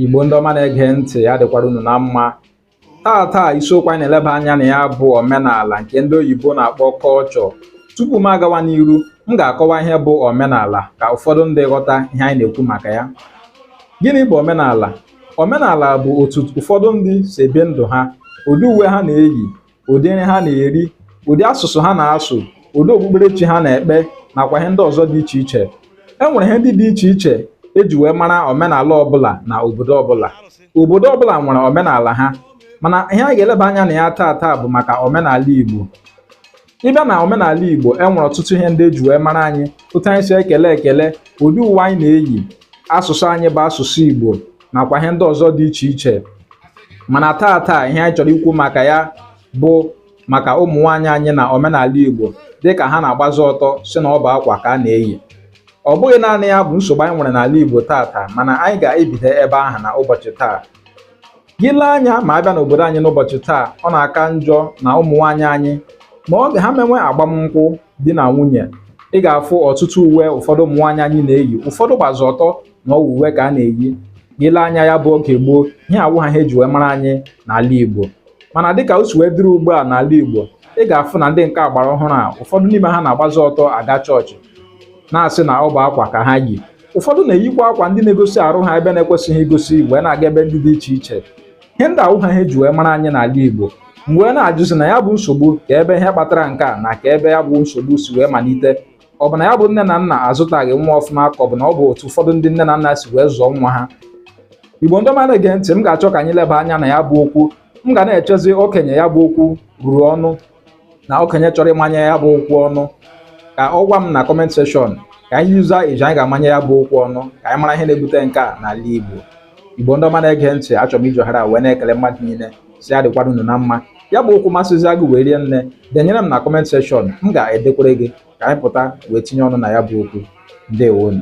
Igbo ndị ọma na-ege ntị ya dịkwara unu na mma taa taa isiokwu anyị na-eleba anya na ya bụ omenala nke ndị oyibo na-akpọ culture tupu m agawa n'iru m ga-akọwa ihe bụ omenala ka ụfọdụ ndị ghọta ihe anyị na-ekwu maka ya gịnị bụ omenala omenala bụ otu ụfọdụ ndị si ebi ndụ ha ụdị uwe ha na-eyi ụdị nri ha na-eri ụdị asụsụ ha na-asụ ụdị okpukperechi ha na-ekpe nakwa ihe ndị ọzọ dị iche iche e nwere ihe ndị dị iche iche eji wee mara omenala ọbụla na obodo ọbụla obodo ọbụla nwere omenala ha mana ihe anyị ga-eleba anya na ya taa taa bụ maka omenala Igbo ị bịa na omenala Igbo e nwere ọtụtụ ihe ndị eji wee mara anyị otu anyị si ekele ekele ụdị uwe anyị na-eyi asụsụ anyị bụ asụsụ Igbo nakwa ihe ndị ọzọ dị iche iche mana taa taa ihe anyị chọrọ ikwu maka ya bụ maka ụmụ nwaanyị anyị na omenala Igbo dịka ha na-agbazi ọtọ sị na ọ bụ akwa ka a na-eyi ọ bụghị naanị ya bụ nsogbu anyị nwere n'ala Igbo taa taa mana anyị ga-ebido ebe ahụ na ụbọchị taa gị lee anya ma a bịa n'obodo anyị n'ụbọchị taa ọ na-aka njọ na ụmụ nwaanyị anyị ma oge ha mewe agbamnkwụ di na nwunye ị ga-afụ ọtụtụ uwe ụfọdụ ụmụ nwaanyị anyị na-eyi ụfọdụ gbazi ọtọ na ọ wụ uwe ka a na-eyi gị lee anya ya bụ oge gboo ihe a awụha ihe eji wee mara anyị n'ala Igbo mana dịka o si wee dịrị ugbu a n'ala Igbo ị ga-afụ na ndị nke agbara ọhụrụ a ụfọdụ n'ime ha na-agbazi ọtọ aga chọọchị na-asị na ọ bụ akwa ka ha yi ụfọdụ na-eyikwa akwa ndị na-egosi arụ ha ebe na-ekwesịghị igosi wee na-aga ebe ndị dị iche iche ihe ndị a awụha ihe eji wee mara anyị n'ala Igbo m wee na-ajụzi na ya bụ nsogbu kee bụ ihe kpatara nke a na kee ebe ya bụ nsogbu si wee malite ọ bụ na ya bụ nne na nna azụtaghị nwa ọfụma ka ọ bụ na ọ bụ otu ụfọdụ ndị nne na nna si wee zụọ nwa ha igbo ndị ọma na-ege ntị m ga-achọ ka anyị leba anya na ya bụ okwu m ga na-echezi okenye ya bụ okwu ruru ọnụ na okenye chọrọ ịmanye ya bụ okwu ọnụ ka ọ gwa m na comment section ka anyị yuza iji anyị ga-amanye ya bụ okwu ọnụ ka anyị mara ihe na-ebute nke a n'ala igbo igbo ndị ọma na-ege ntị achọrọ m iji ohere a wee na-ekele mmadụ niile sị ya dịkwara unu na mma ya bụ okwu masịzịa gị wee rie nne denyere m na comment section m ga-edekwara gị ka anyị pụta wee tinye ọnụ na ya bụ okwu ndewonu